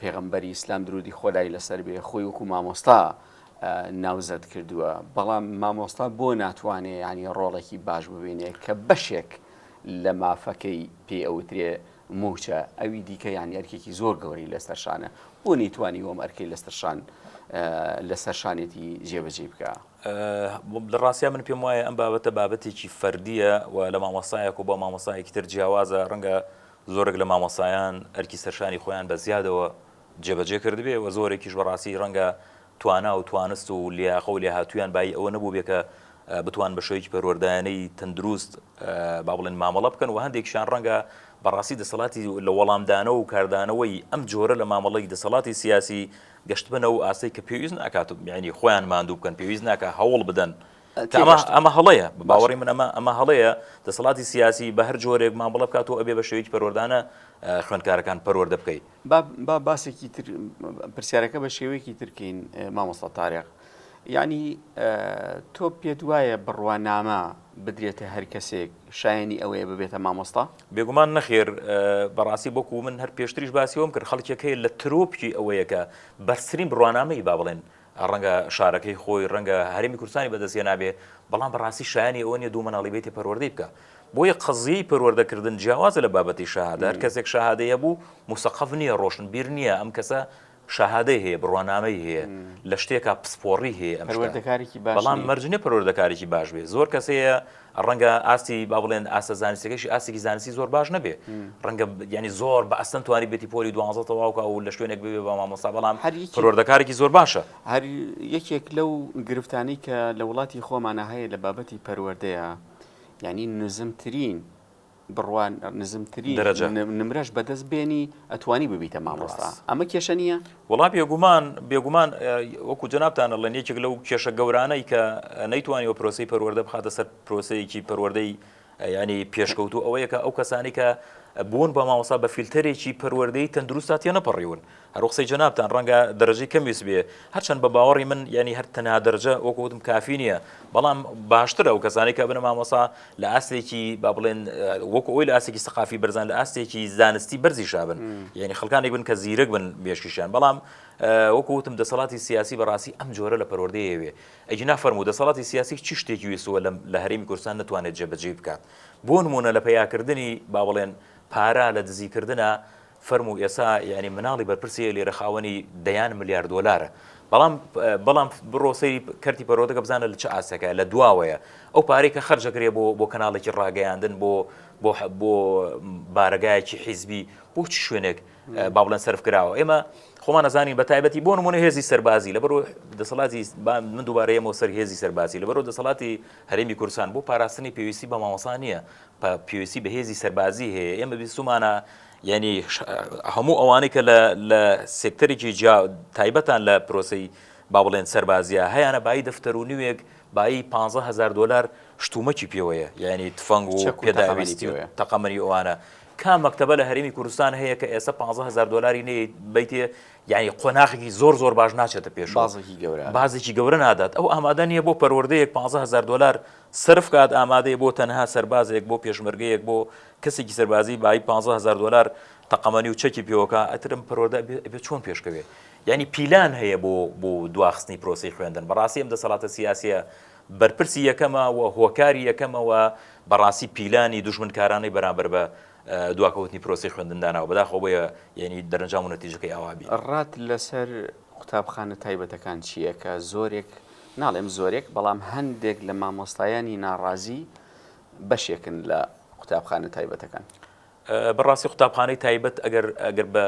پێغەمبەری ئیسلام درودی خۆدای لەسەر بێ خۆی وەکو مامۆستا ناوزەد کردووە بەڵام مامۆستا بۆ ناتوانێ ینی ڕۆڵێکی باش ببینێ کە بەشێک لە مافەکەی پێ ئەوترێ موچە ئەوی دیکە یان ئەرکێکی زۆر گەوری لەسەرشانە بۆ نەیتوانی وەم ئەرکەی لەسەرشان لەسەر شانێتی جێبەجێ بکە لە ڕاستە من پێم وایە ئەم بابەتە بابەتێکی فەردیە و لە مامۆسایەک و بۆ مامۆسایەکی تر جیاوازە ڕەنگە زۆرێک لە مامۆستایان ئەرکی سەرشانی خۆیان بە زیادەوە جێبەجێ کردبێ و زۆرێکیش بەڕاستی ڕەنگە توانا و توانست و لیاقە و لێهاتوویان بایی ئەوە نەبووبێ کە بتوان بە شێوەیەکی پەروەردەیانەی تەندروست با بڵێن مامەڵە بکەن و هەندێکشیان ڕەنگە بەڕاستی دەسەڵاتی لە وەڵامدانەوە و کاردانەوەی ئەم جۆرە لە مامەڵەی دەسەڵاتی سیاسی گەشتبنە و ئاستێک کە پێویست ناکات و یانی خۆیان ماندوو بکەن پێویست ناکات هەوڵ بدەن ئەمە هەڵەیە باوەڕی من ئەمە ئەمە هەڵەیە دەسەڵاتی سیاسی بە هەر جۆرێک مامەڵە بکات و ئەبێ بە شێوەیەکی پەروەردانە خوێندکارەکان پەروەەردە بکەیت با باسێکی تر پرسیارەکە بە شێوەیەکی ترکین مامۆستا تارێق یعنی تۆ پێت وایە بڕوانامە بدرێتە هەر کەسێک شایانی ئەوەیە ببێتە مامۆستا بێگومان نەخێر بەڕاستی بۆکو من هەر پێشتریش باسیەوەم کرد خەڵکێک هەیە لە ترۆپکی ئەوەیەکە بەرسرین بڕوانامەی با بڵێن ڕەنگە شارەکەی خۆی، ڕەنگە هەرێمی کوردستانی بەدەست هێنابێ، بەڵام بەڕاستی شایانی ئەوە نییە دوو منداڵی بێتێ پەروەردەی بکا. بۆیە قەزیەی پەروەردەکردن جیاوازە لە بابەتی شەهادە، هەر کەسێک شەهادەی هەبوو موسەقەف نییە، ڕۆشنبیر نییە، ئەم کەسە شەهادەی هەیە، بڕوانامەی هەیە، لە شتێکا پسپۆڕی هەیە ئەم شتە، بەڵام مەرج نییە پەروەردەکارێکی باش بێ، زۆر کەس هەیە ڕەنگە ئاستی با بڵێن ئاستە زانستەکەشی ئاستێکی زانستی زۆر باش نەبێ ڕەنگە ینی زۆر بە ئەستەن توانی بێتی پۆلی دوانزە تەواوکە و لە شوێنێک بێ بە مامۆستا بەڵام هەری پرۆردەکارێکی زۆر باشە هەر یەکێک لەو گرفتانی کە لە وڵاتی خۆمانە هەیە لە بابەتی پەروەردەیە ینی نزمترین بڕوان نزمترین دەرەجە نمرەش بەدەست بێنی ئەتوانی ببیتە مامۆستا ئەمە کێشە نییە وڵا بێگومان بێگومان وەکو جەنابتانە لەن یەکێک لەو کێشە گەورانەی کە نەیتوانی و پرۆسی پەروەەردە بخاتە سەر پرۆسەیەکی پەروەەردەی ینی پێشکەوتو ئەوەیە کە ئەو کەسانی کە بوون بە ماوەسا بە فیلتەرێکی پەروەەردەی تەندروستا تێ نەپەڕیون هەرو قسەی جەنابتان ڕەنگە دەرەجەی کەم ویست بێ هەرچەند بە باوەڕی من یانی هەر تەنها دەرجە وەکو وتم کافی نییە بەڵام باشترە ئەو کەسانی کە بنە مامۆسا لە ئاستێکی با بڵێن وەکو ئەوی لە ئاستێکی سەقافی بەرزان لە ئاستێکی زانستی بەرزی شابن یعنی خەکانێک بن کە زیرەک بن مێشکیشیان بەڵام وەکو وتم دەسەڵاتی سیاسی بەڕاستی ئەم جۆرە لە پەروەردەیەوێ ئەگینا فەرمو دەسەڵاتی سیاسی چی شتێکی وێسوە لە هەرێمی کوردستان نتوانێت جێبەجێ بکات بۆ نمونە لە پیاکردنی با بڵێن پارە لە دزیکردە فەرموو ئێستا یانی مناڵی بەرپرسی لێرە خاوەنی دەیان ملیار دۆلارە بەڵام بەڵام بڕۆ سەیری کەرتی پەرۆدەکە بزانە لە چ ئاسەکە لە دواوەیە ئەو پارەی کە خەرجەکرێ بۆ بۆ کەناڵێکی ڕاگەیاندن بۆ بۆ بۆ بارەگایەکی حیزبی بۆ چ شوێنێک با بڵێن سرف کراوە ئێمە خۆمان نەزانین بە تایبەتی بۆ نمونە هێزی سەربازی لە بەرو دەسەڵاتی من دووبارەیەمەوە سەر هێزی سەربازی لە بەرو دەسەڵاتی هەرێمی کورسان بۆ پاراستنی پێویستی بە مامەسا نییە پێویستی بە هێزی سەربازی هەیە ئێمە بیستمانە یعنی هەموو ئەوانەی کە لە سێکتەرێکی جیا تایبەتان لە پرۆسی با بڵێن سەربازیە هەیەە بای دەفتەر و نوێک بایی 15هزار دلار شتومەکی پێوەیە یعنی تفەنگ و پێداویستی تەقەمەری ئەوانە کام مەکتتەبە لە هەرمی کوردستان هەیە کە ئێستا 15هزار دلاری نێ بیتێ یعنی قۆناخێکی زۆر زۆر باش ناچێتە پێش بازێکی گەورە بازێکی گەورە نادات ئەو ئامادە نیە بۆ پەروەردەیەک 15هزار دلار سەرف کات ئامادەیە بۆ تەنها سەربازێک بۆ پێشمەرگەیەک بۆ کەسێکی سەربازی بایی پانزە هەزار دۆلار تەقەمەنی و چەکی پێوەکا ئەتر ئەم پەروەردە ئەبێ ئەبێ چۆن پێشکەوێ یانی پیلان هەیە بۆ بۆ دواخستنی پرۆسەی خوێندن بەڕاستی ئەم دەسەڵاتە سیاسیە بەرپرسی یەکەمە و هۆکاری یەکەمە و بەڕاستی پیلانی دوژمنکارانەی بەرامبەر بە دواکەوتنی پرۆسی خوێندن داناوە بەداخەوە بۆیە یعنی دەرەنجام و نەتیجەکەی ئاوا بێ. ڕات لەسەر قوتابخانە تایبەتەکان چییە کە زۆرێک ناڵێم زۆرێک بەڵام هەندێک لە مامۆستایانی ناڕازی بەشێکن لە قوتابخانە تایبەتەکان. بەڕاستی قوتابخانەی تایبەت ئەگەر ئەگەر بە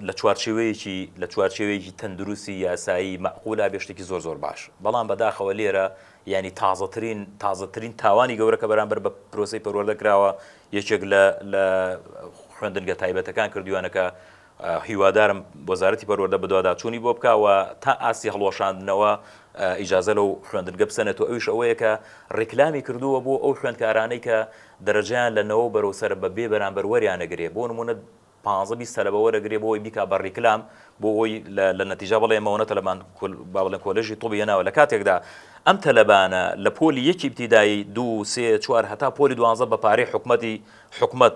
لە چوارچێوەیەکی لە چوارچێوەیەکی تەندروستی یاسایی مەعقولا بێ شتێکی زۆر زۆر باش بەڵام بەداخەوە لێرە ینی تازەترین تازەترین تاوانی گەورەکە بەرامبەر بە پرۆسی پەروەردە کراوە یەکێک لە لە خوێندنگە تایبەتەکان کردویانەکە هیوادارم وەزارەتی پەروەردە بەدواداچوونی بۆ بکا و تا ئاستی هەڵوەشاندنەوە ئیجازە لەو خوێندنگە بسەنێت و ئەویش ئەوەیە کە ڕیکلامی کردووە بۆ ئەو خوێندکارانەی کە دەرەجەیان لە نەوە بەرەو سەرە بە بێ بەرامبەر وەریانەگرێ بۆ نموونە پانزە بیست تەلەبە وەرەگرێ بۆی بیکا بە ڕیکلام بۆ ئەوی لە نەتیجا بڵێ مەوەنە تەلەبان با بڵێن کۆلێژی طوبی هێناوە لە کاتێکدا ئەم تەلەبانە لە پۆلی یەکی ئیبتیدایی دوو سێ چوار هەتا پۆلی دوانزە بە پارەی حکومەتی حکومەت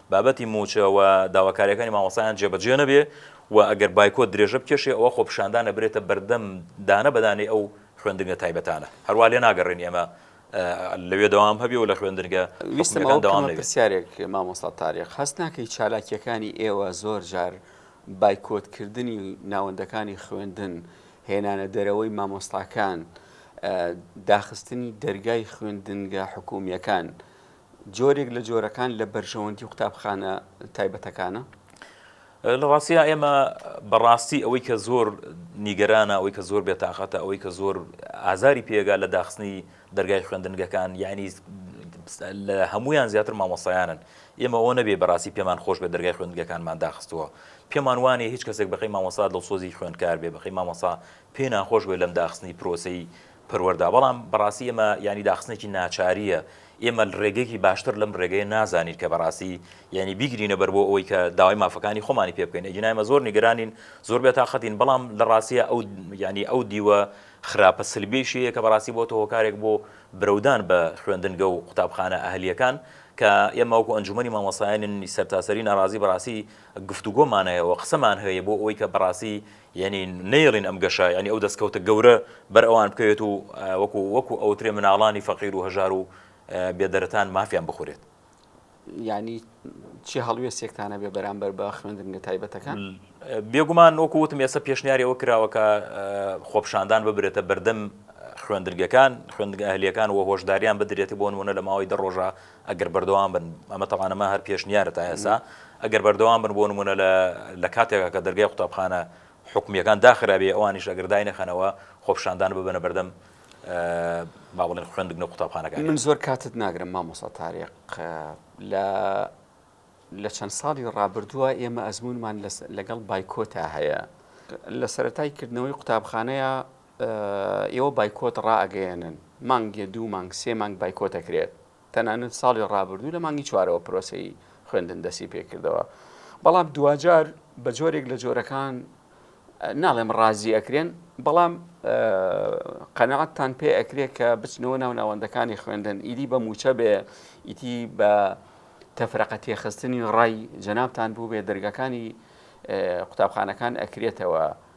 بابەتی مووچە و داواکارییەکانی مامۆستایان جێبەجێ نەبێ و ئەگەر بایکۆت درێژە بکێشێ ئەوا خۆپیشاندان ئەبرێتە بەردەم دانە بە دانەی ئەو خوێندنگە تایبەتانە. هەروا لێناگەڕێین ئێمە لەوێ دەوام هەبێ و لە خوێندنگە حکومییەکان دەوام نەبێ. ویستم ئەوە بکەمە پرسیارێک مامۆستا تاریق، هەست ناکەی چالاکییەکانی ئێوە زۆر جار بایکۆت کردنی ناوەندەکانی خوێندن، هێنانە دەرەوەی مامۆستاکان، داخستنی دەرگای خوێندنگە حکومییەکان جۆرێک لە جۆرەکان لە بەرژەوەندی قوتابخانە تایبەتەکانە؟ لە ڕاستیدا ئێمە بەڕاستی ئەوەی کە زۆر نیگەرانە ئەوەی کە زۆر بێتاقەتە ئەوەی کە زۆر ئازاری پێگا لە داخستنی دەرگای خوێندنگەکان یعنی لە هەمویان زیاتر مامۆسایانن ئێمە ئەوە نەبێ بەڕاستی پێمان خۆش بە دەرگای خوێندگەکانمان داخستووە پێمان وانێ هیچ کەسێک بەقی مامۆسا دڵسۆزی خوێندکار بێ بەقی مامۆسا پێ ناخۆش بێ لەم داخستنی پرۆسی پەروەردە، بەڵام بەڕاستی ئەمە یانی داخستنێکی ناچارییە، ئێمە ڕێگەیەکی باشتر لەم ڕێگەیە نازانین کە بەڕاستی یانی بیگرینە بەر بۆ ئەوەی کە داوای مافەکانی خۆمانی پێ بکەین، ئیگینا ئێمە زۆر نیگەرانین، زۆر بێتاقەتین، بەڵام لە ڕاستییا ئەو یانی ئەو دیوە خراپە سلبیەیشی هەیە کە بەڕاستی بۆتە هۆکارێک بۆ برەودان بە خوێندنگە و قوتابخانە ئەهلییەکان کە ئێمە وەکو ئەنجومەنی مامۆستایانی سەرتاسەری ناڕازی بەڕاستی گفتوگۆمانەیەوە قسەمان هەیە بۆ ئەوەی کە بەڕاستی یەنی نەیەڵین ئەم گەشە یەنی ئەو دەسکەوتە گەورە بەر ئەوان بکەوێت و وەکو وەکو ئەوترێ مناڵانی فەقیر و هەژار و بێ دەرەتان مافیان بخورێت. یانی چی هەڵوێستێکتان هەبێ بەرامبەر بە خوێندنگە تایبەتەکان؟ بێگومان وەکو وتم ئێستا پێشنیاری ئەوە کراوە کە خۆپشاندان ببرێتە بەردەم خوێندرگەکان خوێندگە ئەهلیەکان و هۆشداریان بدرێتی بۆ نمونە لە ماوەی دە ڕۆژە ئەگەر بەردەوام بن، ئەمە تەبعەن ئەمە هەر پێشنیارە تا ئێستا، ئەگەر بەردەوام بن بۆ نموونە لە لە کاتێکا کە دەرگای قوتابخانە حکومییەکان داخرابێ ئەوانیش ئەگەر داینەخەنەوە خۆپیشاندان ببەنە بەردەم با بڵێن خوێندنگە و قوتابخانەکان. من زۆر کاتت ناگرم مامۆستا تاریق لە لە چەند ساڵی ڕابردووە ئێمە ئەزمونمان لەگەڵ بایکۆتا هەیە لە سەرەتای کردنەوەی قوتابخانەیە ئێوە بایکۆت ڕائەگەیەنن، مانگێ دوو مانگ سێ مانگ بایکۆت ئەکرێت، تەنانەت ساڵی ڕابردوو لە مانگی چوارەوە پرۆسەی خوێندن دەستی پێکردەوە، بەڵام دواجار بە جۆرێک لە جۆرەکان ناڵێم ڕازی ئەکرێن، بەڵام قەناعەتتان پێ ئەکرێت کە بچنەوە ناو ناوەندەکانی خوێندن، ئیدی بە موچە بێ ئیتی بە تەفرەقە تێخستنی ڕای جەنابتان بووبێ دەرگاکانی قوتابخانەکان ئەکرێتەوە،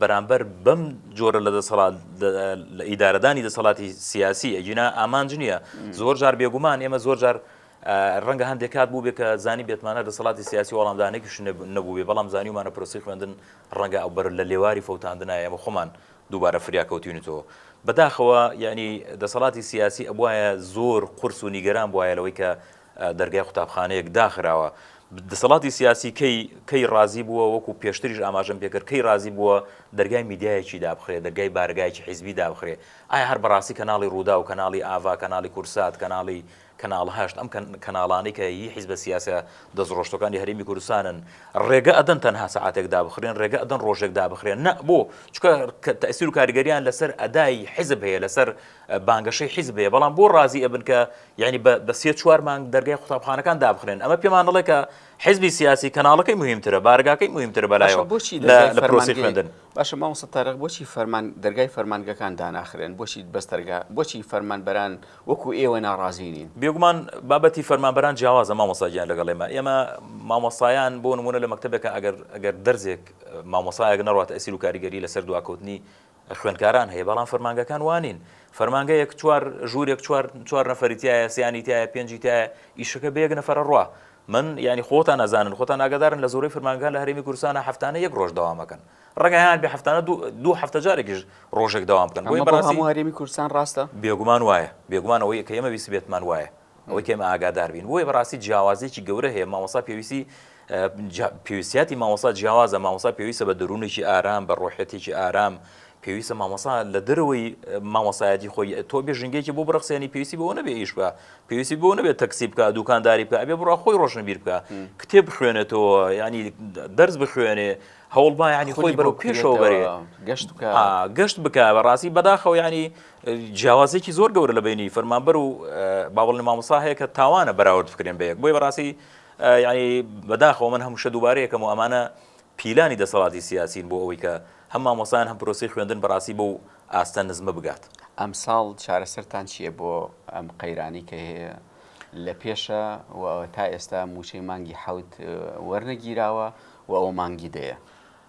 بەرامبەر بەم جۆرە لە دەسەڵات لە ئیدارەدانی دەسەڵاتی سیاسی ئەگینا ئامانج نییە زۆر جار بێگومان ئێمە زۆر جار ڕەنگە هەندێک کات بوو بێ کە زانی بێتمانە دەسەڵاتی سیاسی وەڵامدانێکیش نەبووێ بەڵام زانیمانە پرسی خوێندن ڕەنگە ئەو بەر لە لێواری فەوتاندنایە بە خۆمان دووبارە فریاکەوتینەوە بەداخەوە یعنی دەسەڵاتی سیاسی ئەبواە زۆر قرس و نیگەران بواە لەوەی کە دەرگای قوتابخانەیەک داخراوە. دەسەڵاتی سیاسی کەی کەی ڕازی بووە وەکو پێشتریش ئاماژەم پێکرد کەی ڕازی بووە دەرگای میدیایەکی دابخرێ دەرگای بارەگایەکی حیزبی دابخرێ ئایا هەر بەڕاستی کەناڵی ڕووداو کەناڵی ئاڤا کەناڵی کورسات کەناڵی کەناڵ هەشت ئەم کەناڵانەی کە هی حیزبە سیاسە دەستڕۆشتەکانی هەرێمی کوردستانن ڕێگە ئەدەن تەنها سەعاتێک دابخرێن ڕێگە ئەدەن ڕۆژێک دابخرێن نە بۆ چکە تەسیر و کاریگەریان لەسەر ئەدای حیزب هەیە لەسەر بانگەشەی حیزب هەیە بەڵام بۆ ڕازی ئەبن کە یانی بە سێ چوار مانگ دەرگای قوتابخانەکان دابخرێن ئەمە پێمان دەڵێ کە حزبی سیاسی کەناڵەکەی مهمترە بارگاکەی مهمتر بەلایەوە بۆچی لە پرۆسی خوێندن باشە مامۆستا تارق بۆچی فەرمان دەرگای فەرمانگەکان داناخرێن بۆچی بەس دەرگا بۆچی فەرمانبەران وەکو ئێوە ناڕازی نین بێگومان بابەتی فەرمانبەران جیاوازە مامۆستا گیان لەگەڵ ئێمە ئێمە مامۆستایان بۆ نمونە لە مەکتبێکە ئەگەر ئەگەر دەرزێک مامۆسایەک نەڕات ئەسیر و کاریگەری لەسەر دواکەوتنی خوێندکاران هەیە بەڵام فەرمانگەکان وانین فەرمانگەیەک چوار ژوورێک چوار چوار نەفەری تایە سیانی تایە پێنجی تایە ئیشەکە بە یەک نەفەرە ڕوا من ینی خۆتان نازانن خۆتان ناگەدارن لە زۆری فرمانگە لە هەرمی کورسانە هەفتانە یەک ڕۆژ داوامەکەن ڕگەیان بە هەفتانە دوو هەفتە جارێکیش ڕۆژێک داوام بکەن بۆی بەڕاستی هەرمی کورسان ڕاستە بێگومان وایە بێگومانەوەی کە ئمە ویسبێتمان وایە ئەوەی ئێمە ئاگادار بین بۆیە بەڕاستی جیاوازێکی گەورە هەیە مامۆسا پێویستی پێویستیاتی مامۆسا جیاوازە مامۆسا پێویستە بە دەروونێکی ئارام بە ڕۆحەتێکی ئارام پێویستە مامۆسا لە دەرەوەی مامۆسایەتی خۆی تۆ بێ ژنگێکی بۆ بڕخسێنی پێویستی بۆ نەبێ ئیش بە پێویستی بۆ نەبێت تەکسی بکە دوکانداری بکە ئەبێ بڕا خۆی ڕۆشنبیر بکە کتێب بخوێنێتەوە ینی دەرز بخوێنێ هەوڵبا ینی خۆی بەرەو پێشەوە بەرێ گەشت گەشت بکە بەڕاستی بەداخەوە ینی جیاوازیەکی زۆر گەورە لە بینی فەرمانبەر و باوەڵی مامۆسا هەیە کە تاوانە بەراورد بکرێن بەیەک بۆی بەڕاستی یعنی بەداخەوە من هەمووشە دووبارەیەکەم و ئەمانە پیلانی دەسەڵاتی سیاسین بۆ ئەوەی کە هەم مامۆسان هەم پرۆسی خوێندن بەڕاستی بۆ ئاستە نزمە بگات ئەم ساڵ چارەسەرتان چییە بۆ ئەم قەیرانی کە هەیە لە پێشە و تا ئێستا موچەی مانگی حوت وەرنەگیراوە و ئەو مانگی دەیە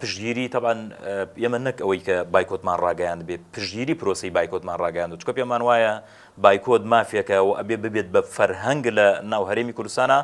پشتگیری تەبعەن ئێمە نەک ئەوەی کە بایکۆتمان ڕاگەیاندبێ پشتگیری پرۆسەی بایکۆتمان ڕاگەیاندوە چونکە پێمان وایە بایکۆت مافێکە و ئەبێ ببێت بە فەرهەنگ لە ناو هەرێمی کوردستانە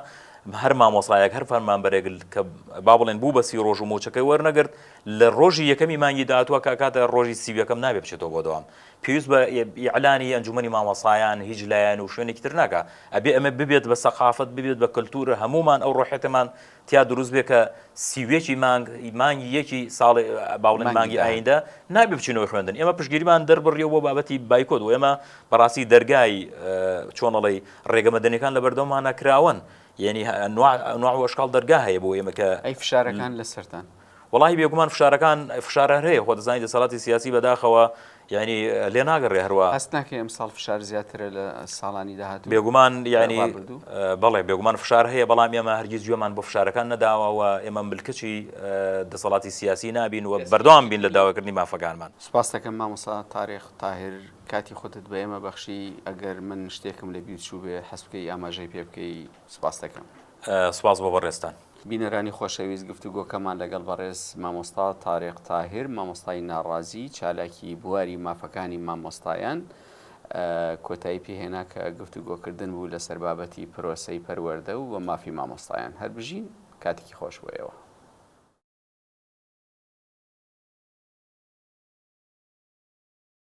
هەر مامۆسایەک هەر فەرمانبەرێک کە با بڵێن بوو بە سی ڕۆژ و مۆچەکەی وەرنەگرت لە ڕۆژی یەکەمی مانگی داهاتوە کە کاتە ڕۆژی سی یەکەم نابێ بچێتەوە بۆ دەوام پێویست بە ئیعلانی ئەنجومەنی مامۆسایان هیچ لایەن و شوێنێکی تر ناکە ئەبێ ئەمە ببێت بە سەقافەت ببێت بە کللتورە هەمومان ئەو ڕۆحێتمان تیا دروست بێ کە سی و یەکی مانگ مانگی یەکی ساڵ باڵێن مانگی ئایندە نابێ بچینەوە خوێندن ئێمە پشگیریمان دەربڕیەوە بۆ بابەتی بایکۆت و ئێمە بەڕاستی دەرگای چۆنەڵی ڕێگەمەدەنەکان لە بەردەمانە کراون یعنی نوع وەشکال دەرگا هەیە بۆ ئێمەکە ئەی فشارەکان لەسەران وەڵاهی بێگومان فشارەکان فشار هەر هەیە خۆ دەزانی دەسەڵاتی سیاسی بەداخەوە یانی لێ ناگەڕێ هەروا هەست ناکەی ئەمساڵ فشار زیاترە لە ساڵانی داهاتوو بێگومان یانی بەڵێ بێگومان فشار هەیە بەڵام ئێمە هەرگیز گوێمان بۆ فشارەکان نەداوەوە ئێمە ملکچی دەسەڵاتی سیاسی نابین و بەردەوام بین لە داواکردنی مافەکانمان سپاستەکەم مامۆسا تاریخ تاهر کاتی خودت بە ئێمە بەخشی ئەگەر من شتێکم لە بیرچوو بێ حەسبکەی ئاماژەی پێ بکەی سپاست دەکەم. سپاس بۆ بەڕێزتان. بینەرانی خۆشەویست گفتوگۆکەمان لەگەڵ بەڕێز مامۆستا تاریق تاهیر مامۆستای ناڕازی چالاکی بواری مافەکانی مامۆستایان کۆتایی پێ هێنا کە گفتوگۆکردن بوو لەسەر بابەتی پرۆسەی پەروەردە و و مافی مامۆستایان هەر بژین کاتێکی خۆش بۆ ئێوە.